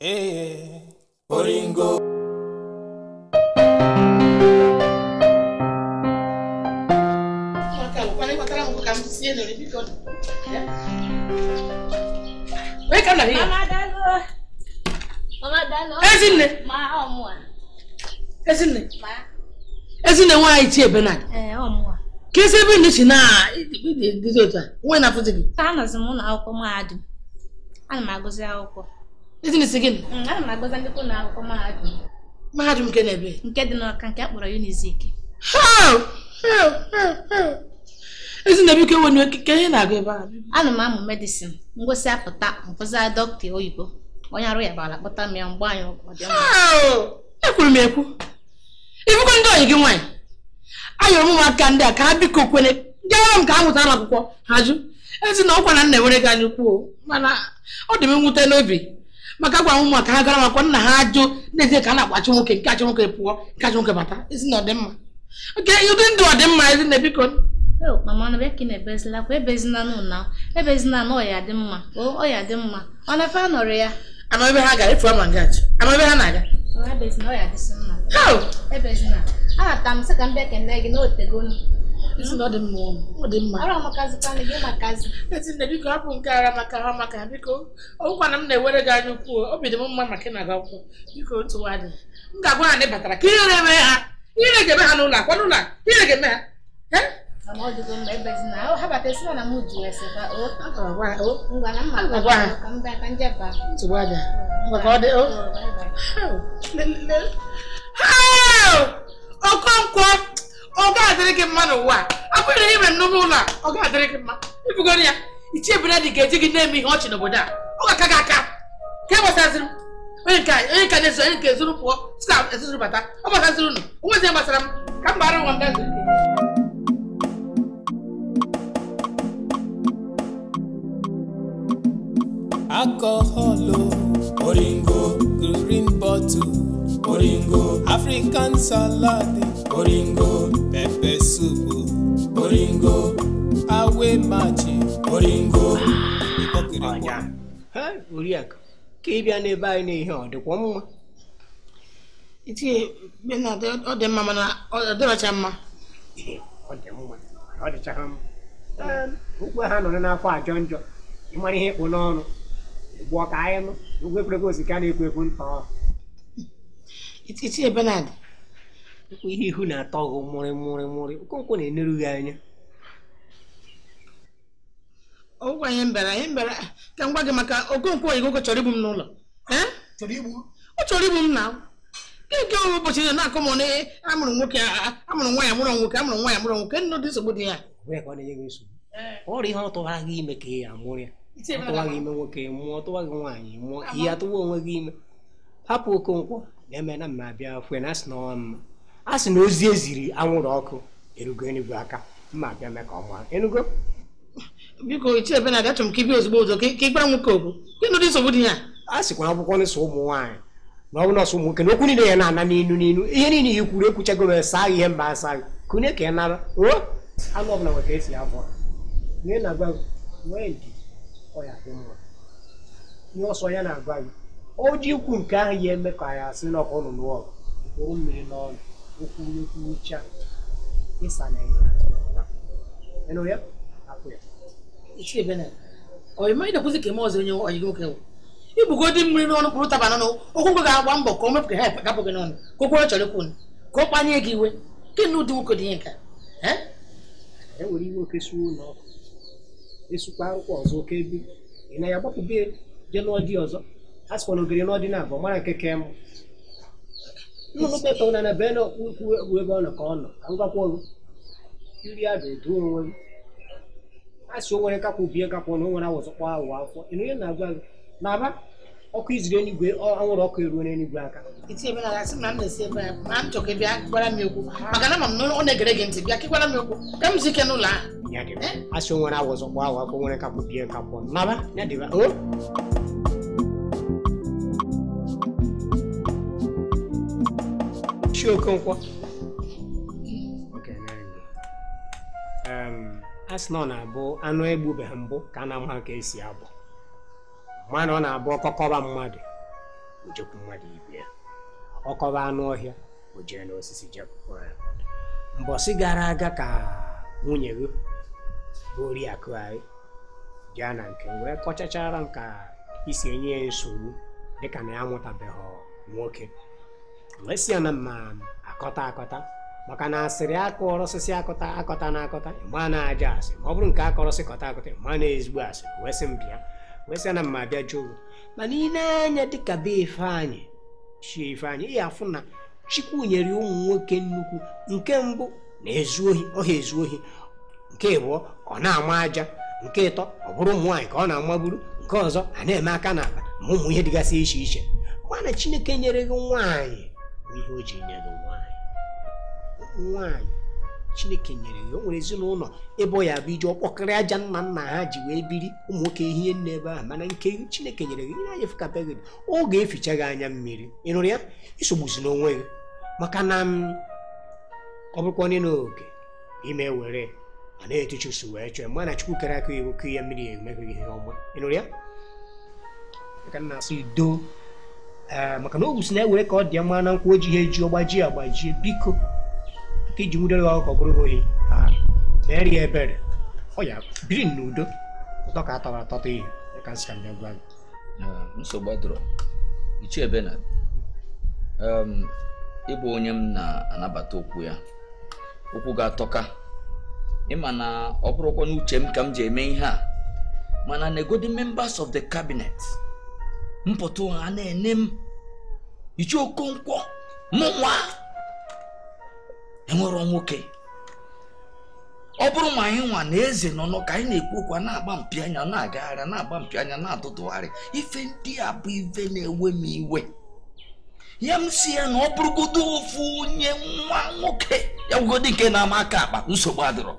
ee oringo ezinne ezinne ezinne nwaanyị chi ebe na kezi ebe nne si na-adịzi otu a nwee na-afụzi gị ana m agụzi akwụkwọ ezinne ị sị gịnị mm, ana m agụzi nnukwu ụnọ akwụkwọ mahadum mahadum nke n'ebee nke dị n'Ọka nke a kpọrọ unizik ezinne biko ewena iwe kee ihe ị na-agụ ebe a ana m amụ medicine m gụsịa pụta m bụzia dọkịta oyibo onye arụ yaba a kpọta m ya m gbaa ya ekwuru m ekwu ị fụgo ndị ọyị gị nwaanyị ayọrọ m ụmụaka ndị a ka ha biko kwene gaara m ka ha mụtanụ akwụkwọ ha jụ ezinne ọkwa na m na-enwere gị anya ukwu mana ọ dị m nwute n'obi maka agwa m ụmụ m ka ha gara makwa nna ha ajụ nezie ka ha na-agbachụ nwoke nke a chụ nwoke pụọ nke a chụ nwoke bata ezinne ọ dị mma kee ụdị ndụ ọ dị mma ezinne biko mama na bịa ka ị na ebezila akwa ebezina ị nụna ebezina na ọ ya-adị mma ọ ya-adị mma ọ na-efe anọrị ya ama ebe ha gara efu ama nga achọ ama ebe ha na-aga anata m sị ka m bịa kene gị na otegonu ezinne biko hapụ nke ara maka ha maka biko ọgwụkwana m na-ewere gị anya ukwu obi dị m mma maka ị na-aga akwụkwọ biko otu nwa dị m ga-agwa ha na ị batara ka ihere eme ha ihere ga-eme ha n'ụlọ akwa n'ụlọ ihere ga-eme ha okonkwo ọ ga-adịrị gị mma n'ụwa a bụrụ ihe mere n'ụlọ ụlọ ọ ga-adịrị gị mma ibugoro ya ichie benard ga-eji gị na-eme ihe ọchị n'obodo a ọ ga-aka gị aka ke gbasaziri m onye nke na-ezo onye nke ezuru pụọ si na ezuru bata ọ gbasaziri unu onwezi gbasara m ka m gbara nwa m gazi alcohol oringo green bottle oringo african salad oringo pepper soup oringo awe machi oringo ịkpọkịrịkwa oriakụ ka ị bịa n'ebe anyị n'ihe ọ dịkwa mma ichie benard ọ dị mma mana ọ dịrọcha mma ọ dị mma ọ dịchaghị mma okwu ha nọrọ n'afọ ajọ njọ ị mara ihe ị kpụ n'ọnụ gbụọ ka anyị nụ ụgwọ ekwurekwu o si ka na-ekwu ekwu ntọ ichie benard ihe ihu na-atọ gị mụrị mụrị mụrị okonkwo na-eneru gị anya ọgwụgwọ anyị mbara anyị mbara ka m gwa gị maka okonkwo ọyị gị ọ chọrọ igbu m n'ụlọ ọ chọrọ igbu m na nke ụbọchị na na-akọ m na amụrọ nwoke amụrụ nwaanyị amụrụ nwoke amụrụ nwaanyị amụrụ nwoke o nwedị nsogbu dị ya ọrọ ihe ọ tụwara gị ime ka ị ya-amụrụ ya ọ tụwa gị ime nwoke mụọ ọ tụwa gị nwaanyị mụọ ị ya-atụwa onwe gị ime hapụ okonkwo na-eme na mma abịa fụ ya na asị na ọwa mma a sị na ozi eziri anwụrụ ọkụ erugo enuigwe aga m abịa mee ka ọ maa ị nụgo biko ichie benard achọrọ m ka ị bịa ozugbo ụzọ ka ị gwara nwoke okwu gịnị dị nsogbu dị ya a sịkwa akwụkwọ nsọ ụmụ nwaanyị na ọ bụ nọọsụ ụmụ nwoke na okwu niile ya na-ana n'inu n'inu ihe niile ya kwuru ekwuchago m saa ihe mba asa kune ka ị nara o anụ ọbụla nwere ka esi ya abọ na ị na-agwa gị nwee ndidi ọ ya-adị mma ihe ọ sọ ya na-agwa gị o ji ikwu nke ahụ ya eme ka ya asị na ọkụ nụnụ ọgụ kpụrụ mmiri n'ọnụ o kwuo kwuchaa ị saana ya ị nụ ya hapụ ya ichie benard ọ ị ma ị na-ekwuzi ka eme ọzọ onye ọyị gị nwoke wụ ibugodị mmiri n'ọnụ kpụrụ taba n'ọnụ okonkwo ga-agba mbọ ka o mepụ ka ha gapụ gị n'ọnụ ka o kwuo ihe ọ chọrọ ikwu ka ọ kpanye gị iwe gị na ụdị nwoke dị ihe nke a e were iwe oke suo ụlọ ọkụ esukwa arụkwa ọzọ oke ebe ị na ya gbapụbe je lụọ di ọzọ a sịkwa na ogori lụọ di naabọ mara nke ka mma nnụnụ kpetọ n'ana bee na ukwu egwu ebe ọ nọ ka ọ nọ ka m gakwa ọrụ iri a ga-edu onwe m a sị o nwere nkakwụ bie nkakwụ na o nwere awọ zọkpọọ awọ afọ ị nụ ihe m na-agwa gị na ọ bụ ọkụ e ziri enigwe anwụrụ ọkụ eruona enigwe aka ichie Benard a sị na m na-esi ebe ya ma m chọọ ka ị bịa gwara m okwu maka na ama m na ọ na-egere gị ntị bịa ka ị gwara m okwu ka m zuo ike n'ụlọ ahụ eh? a sị o nwere awọ zọkpọọ awọ afọ nwere nkakwụ bie nkakwụ naba ya dịba ichie okonkwo a sị na ọ na-abụ anụ egbubeghị mbụ ka a na-ama ka e si abọ mana ọ na-abụ ọkọ kọba mmadụ o jekwuru mmadụ ibe ya ọ kọba anụ ọhịa o jee n'osisi je kọọ ya mbọsị gara aga ka nwunye gị bụ oriakụ anyị bịa na nke m wee kọchachara m ka i si enye ya nsogbu dịka na ya amụtabeghị nwoke wee sị ya na m ma akọta akọta maka na asịrị a kọrọ sị akọtana akọta ị ma na ajọ asị ma ọ bụrụ nke a kọrọ sị kọta akọta ị ma na ezigbo asị wee sị m bịa wee sị na m ma abịa jụọ mana i nee anya dịka be ifeanyị ichie ifeanyị ị ya-afụ na chukwu nyere ụmụ nwoke nnukwu nke mbụ na-ezu ohi ọ ha ezu ohi nke ịbụọ ọ na-ama aja nke ịtọ ọ bụrụ ụmụ nwaanyị ka ọ na-amagburu nke ọzọ a na-eme aka n'akpa ma ụmụ ihe dịgasị iche iche mana chineke nyere gị nwaanyị ma ihe o ji nye gị nwaanyị nwaanyị chineke nyere gị o nwere ezinụlọ ebe ọ ya-abụ i je ọkpọkịrị aja nna nna ha ji wee biri ụmụ nwoke ehi nne ebe ahụ mana nke chineke nyere gị ihe anyị fụkabeghị gị ọ ga-eficha gị anya mmiri ị nụrụ ya esogbuzina onwe gị maka na mm, ọ bụrụkwa onye na oke ime were a na-etu chusu wee chọọ ma na chukwu kere aka iwu ka ihe mmiri ya emeghị ihe ọma ị nụrụ ya ka m na-asị ndo ee maka na ogwu si na-ewere ka ọ dị ya mma na nkwụ oji ha eji ọgbaji agbajie biko ka e ji nwudere ya ọkụkọ bụrụ ohi ha meere ya ebere ọ ya biri n'udo ụtọ ka a tọrọ atọta ihe ka nsị ka m bịa gwa gị nsogbu adọrọ ichie Benard ị bụ onye m na-anabata okwu ya okwu gị atọka ị ma na ọ bụrụkwa n'uche m ka m ji eme ihe a mana negodi members of the cabinet m pụta ha a na-ene m ichie okonkwo mụ nwa enwerọ nwoke ọ bụrụ ma anyị nwa na eze nọ nọ ka anyị na-ekwu okwu na-agba mpi anya na-agagharị na-agba mpi anya na-atụtụgharị ife ndị a bụ ife na-ewe m iwe ya m sị ya na ọ bụrụgodo ofu onye nwa nwoke ya bụgodị nke na-ama aka akpa nsogbu adịrọ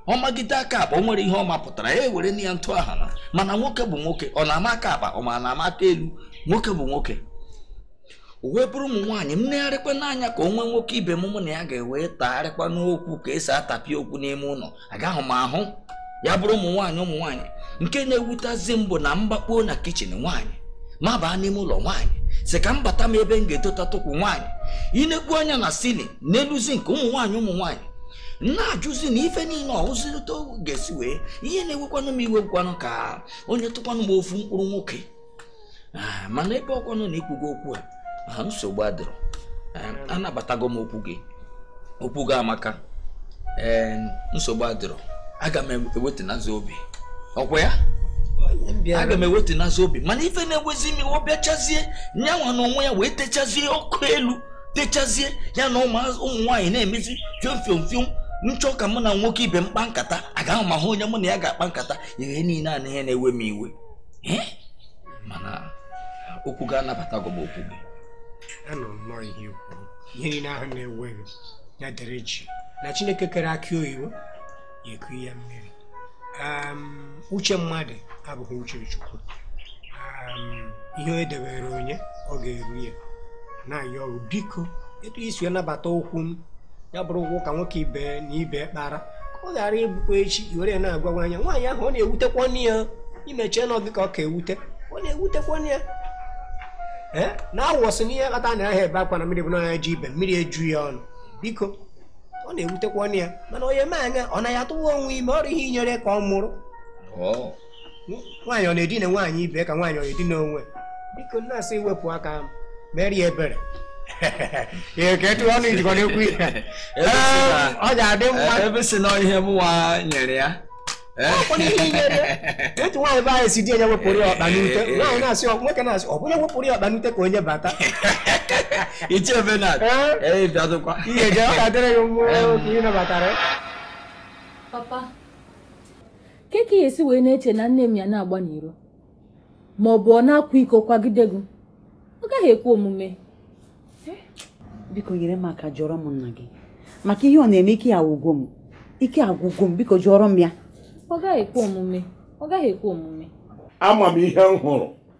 ọ magide aka akpa o nwere ihe ọ mapụtara ya ewere na ya ntụ aha na mana nwoke bụ nwoke ọ na-ama aka akpa ọ ma na-ama aka elu nwoke bụ nwoke o wee bụrụ ụmụ nwaanyị m negharịkwa n'anya ka o nwe nwoke ibe m mụ na ya ga-ewe tagharịkwa n'okwu ka e si atapịa okwu n'ime ụlọ agaghị m ahụ ya bụrụ ụmụ nwaanyị ụmụ nwaanyị nke na-ewutazi m bụ na m gbakpuo na kitchen nwaanyị m abaa n'ime ụlọ nwaanyị sị ka m bata m ebe m ga-edotatụ ụkwụ nwaanyị i nekwu anya na ceiling n'elu zinc ụmụ nwaanyị ụmụ nwaanyị na-ajụzi na ife niile ọhụzirịta ga-esi wee ihe na-ewekwanụ m iwe ngwanụ ka o nyetụkwanụ m ofu mkpụrụ nwoke ah, mana ebe ọ kwanụ na i kwugo okwu a ah, nsogbu adịrọ eh, anabatago m okwu gị okwu gị amaka eh, nsogbu adịrọ aga m ewetanazi obi ọ kwa ya aga m ewetanazi obi mana ife na-ewezi m iwe ọ bịachazie nyanwa na onwe ya wee techazie ọkụ elu techazie ya na ụmụ nwaanyị na-emezi fiom fiom fiom m chọọ ka mụ na nwoke ibe m kpa nkata agaghị m ahụ onye mụ na ya ga-akpa nkata ihe niile a na ihe na-ewe m iwe mana okwu gị anabatago m okwu gị anọ nnọọ ihe i kwu ihe niile ahụ na-ewe gị ya dere jii na chineke kere akị oyibo ya eku ya mmiri uche mmadụ abụghị uche chukwu ihe o debere onye ọ ga-eru ya na-ayọ biko etu i si nabata okwu m ya bụrụkwa ụka nwoke ibe na ibe kpara ka ọ ghara ịbụkwa echi i were na-agwa nwaanyị ahụ ọ na-ewutekwanụ ya ị ma eche na gị ka ọ ka ewute ọ na-ewutekwanụ ya na awọ sị n'ihe kpata anaghị ebe akwa na mmiri bụ na nya ji ebe mmiri eju ya ọnụ biko ọ na-ewutekwanụ ya mana onye mee anya ọ na ya atụwa onwe ime ọ bụ ihe i nyere ka ọ mụrụ nwaanyị ọ na-edina nwaanyị ibe ka nwaanyị ọ na-edina onwe biko nna a sị i wepụ aka m mere ya ebere eketu ọnụ ijikọ na-ekwu ihe ọ ga-adị mma ebe ị sị na ihe mụnwa nyere ya otu nwaanyị be anyị sị di onye wepụrụ ya ọkpa n'ute nwaanyị na-asị nwoke na-asị ọ bụrụ wepụrụ ya ọkpa n'ute ka onye bata iche ebe na ee bịadụkwa ihe je ọ ga-adịrị gị mma oke ị nabatara papa kee ka ya esi wee na-eche na nne m ya na-agba n'iro ma ọ bụ ọ na-akwa iko kwagide gị ọ gaghị ekwe omume biko nyere m aka jụọrọ m nna gị maka ihe ọ na-eme ike agwụgo m ike agwụgo m biko jụọrọ m ya ọ gaghị ekwe omume ọ gaghị ekwe omume ama m ihe m hụrụ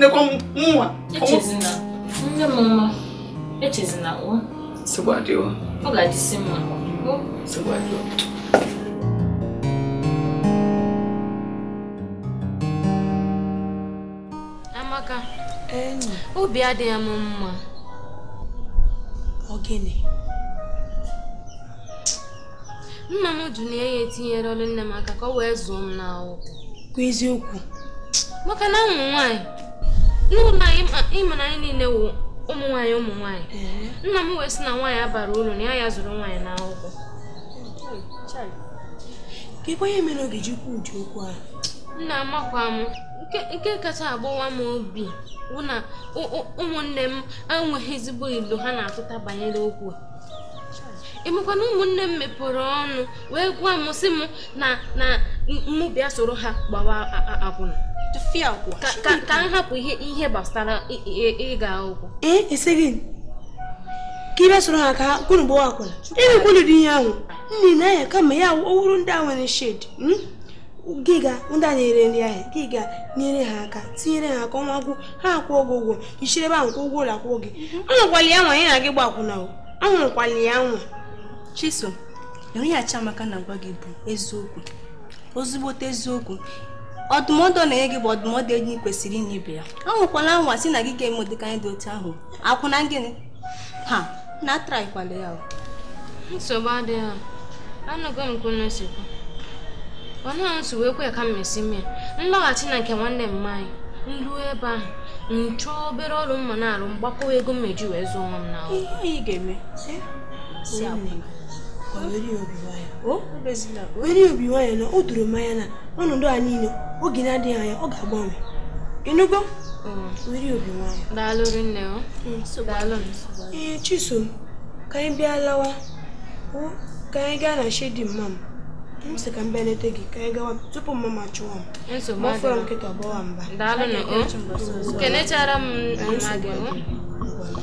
nekwa mụnwa echezina nne m mma echezina o nsogbu adịghị ọ ga-adịsi mma nsogbu adịghị Amaka obi adịghị m mma ọ gịnị nna m jụ na ya etinyere ọrụ nne m aka ka ọ wee zụọ m n'akwụkwọ kwa eziokwu maka na ụmụ nwaanyị n'ụlọ anyị ịma na anyị niile wụ ụmụ nwaanyị ụmụ nwaanyị nna m wee sị na nwaanyị abara uru na ya ya zụrụ nwaanyị n'akwụkwọ kekwa ihe mere o ga-eji kwuo ụdị okwu a nna amakwa m nke kacha agbawa m obi bụ na ụmụnne m enweghị ezigbo elo ha na-atụta banyere okwu a ị makwa na ụmụnne m mepere ọnụ wee gwa m sị m na na mụ bịa soro ha gbawa akwụna ka m hapụ ihe ihe gbasara ịga akwụkwọ ee sị gị ka ị bịa soro ha ka unu gbawa akwụna emekwala ụdị ihe ahụ nne na ya kama ya ọwụrụ ndị a nwere shedi hmm? gị gaa ndị a na-ere nri ahụ gị gaa nyere ha aka tinyere ha aka ọnwa gwụ ha akwụọ gị ụgwọ i siri ebe ahụ kwụọ ụgwọ ụlọ akwụkwọ gị anwakwala ya anwa ya na gị gbaa akwụna o anwakwala ya anwa chisom ihe a chiamaka na-agwa gị bụ eziokwu ezigbote eziokwu ọdụmọdụ ọ na-enye gị bụ ọdụmọdụ enyi kwesịrị inye ibe ya anwakwala anwa sị na gị ga-eme ụdịka ihe dị otu ahụ akwụna gịnị ha na-atraikwala ya nsogbu adịghị ha anụgo m ka unu si kwuo onye ahụ si wee kwe ka m mesi mee m lọghachi na nke nwanne mma anyị m ruo ebe ahụ m chọọ obere ọrụ m ma na-arụ m gbakọwa ego m ma eji wee zụọ onwe m na ihe anyị ga-eme si akwụna were obi nwayọ na o doro m anya na ọnọdụ a niile oge na-adịghị anya ọ ga-agbanwe ịnụgo were obi nwayọ daalụ rinne o mm, daalụ ee chisom ka anyị bịa lawa ka anyị gaa na shedi mma m m sị ka m bịa leta gị ka anyị gawa tupu mma m achọwa m ma fọrọ nkịta ọgbawa mba daalụ na o kenechara m mma gị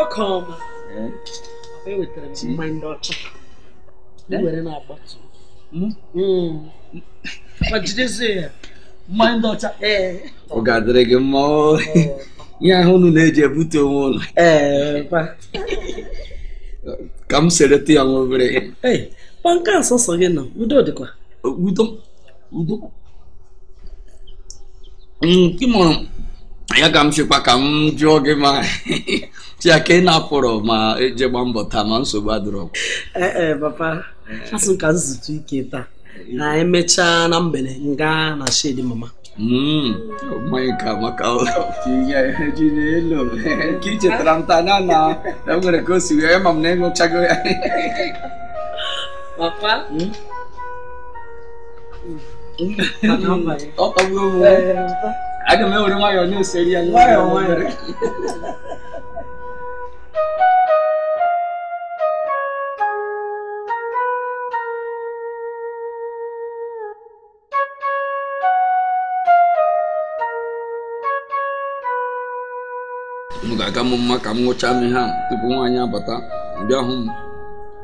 ọka ọma ewetara m mmanya ndị ọcha were na-agbatu ma jidezie ya mmanya ndị ọcha ọ ga-adịrị gị mma ihe ahụ unu na-eji ebute onwe unu ka m seretụ ya nwa obere ihe nke a sọsọ gị nọ udo dịkwa udo ya ka m chekwa ka m jụọ gị ma ya ka ị na-apụrọ ma jee gbaa mbọ taa ma nsogbu adịrọ ee e, papa asị m ka m zutu ike taa na emechaa na mgbede m gaa na shedi mama hmm, mmanya ka maka nke i chetara m taa na na enwere ka o si wee ma m na ịṅụchago ya papa hmm? aga m ewere nwayọọ na-eseri ya nwayọọ nwayọọ ọ ga-aka m mma ka m ṅụchaa m ihe a tupu nwaanyị a bata bịa hụ m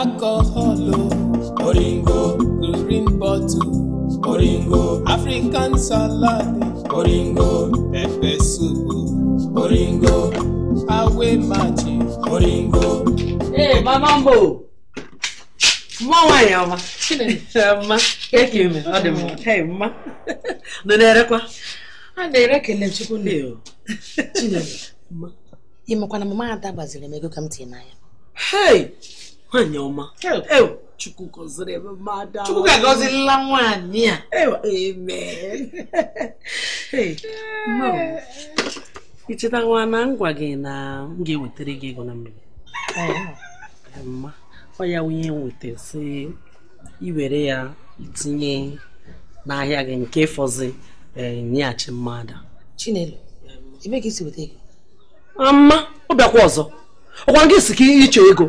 alcohol oh. oringo green bottle oringo african salad oringo pepper soup oh. oringo away match oringo. ee hey, mama mbo mma nwaanyị ọma mma kee ka i me ọ dị mma hey mma unu na-erekwa a na-ere kele chukwu nne o chineke ị makwa na mama ada gbaziri m ego ka m tinye n'ahịa hei nwaanyị ọma chukwu gọziri ebe mmadụ chukwu ga-agọzirila nwaanyị a amen i chetakwa na m gwa gị na m ga-ewetara gị ego na mgbede mma ọ ya ihe m weta sị i were ya i tinye n'ahịa gị nke fọzi eh, nyeghachi mama ada chinelo ebee ka i si weta ego mma ọ bịakwa ọzọ ọ kwa gị sị ka ị chọ ego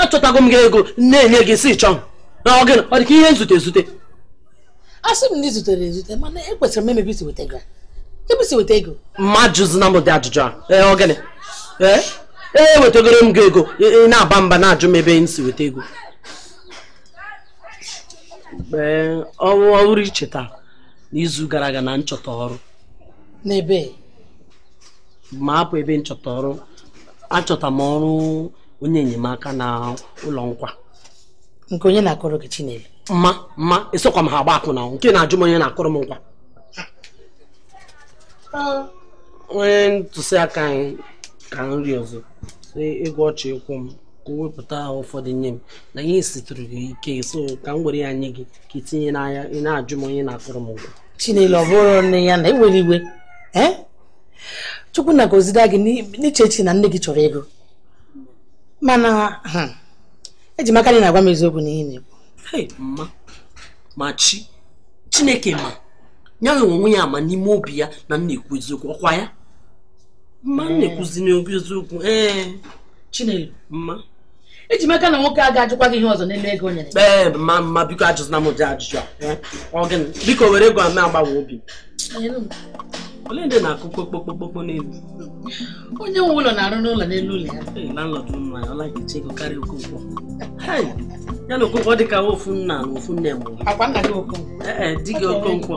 achọtago m gị ego na-enye gị si chọọ na ọ gịnị ọ dị ka ihe m zute ezute asị m na i zutere ezute mana ekwesịrị m ịma ebe i si weta ego ebe i si weta ego mma ajụzina m ụdị ajụjụ a ee ọ gịnị ee ewetagoro m gị ego ị na-aba mba na-ajụ m ebe m si weta ego ee ọrụ ọhụrụ i cheta n'izu gara aga na m chọta ọrụ n'ebee mma hapụ ebe m chọta ọrụ achọta m ọrụ onye enyemaka na ụlọ nkwa nke onye na-akụrụ gị Chinelo mma mma esokwa m ha agba akwụna nke ị na-ajụ m onye na-akụrụ m nkwa onye ntụziaka anyị ka m rịọrọ ego ọ chọ ịkwụ m ka o wepụta ụfọdụ nye m na ihe siitụrụ gị ike so ka m were ya nye gị ka i tinye n'ahịa ị na-ajụ m onye na-akụrụ m nkwa chinelo ọ bụrụ nne ya na-ewere iwe eh? chukwu na-agọziri gị n'ichechi na nne gị chọrọ ego mana hmm, eji m aka na ị na-agwa m eziokwu n'ihe ị na-ekwu mma ma chi chineke ma ya nwe onwe ya ama n'ime obi ya na m na-ekwu eziokwu ọkwa ya mma m na-ekwuzi n'okwu eziokwu ee eh. chinelo mma eji m aka na nwoke a ga-ajụkwa gị ihe ọzọ n'elu ego o nyere ee ma mma biko ajụzina m ụdị ajụjụ a eh? ọ gịnị biko were ego a m agbanwe obi ole ndị na-akụ kpokpokpokpokpo n'elu onye nwe ụlọ na-arụ n'ụlọ n'elu ụlọ ya eh, landlord nwa ya ọ laghị eche ego karịa okonkwo ya na okonkwo dị ka ofu nna na ofu nne mụrụ ọkwa nna gị okonkwo ee eh, di gị okonkwo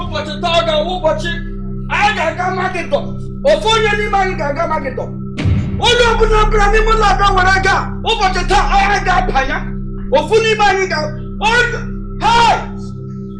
ụbọchị taa ga-awụ ụbọchị anyị ga-aga magịdọ ofu onye n'ime anyị ga-aga magịdọ onye ọbụla ọbụla n'ime ụlọ a bịa were aga ụbọchị taa anyị ga-abanye ofu n'ime anyị ga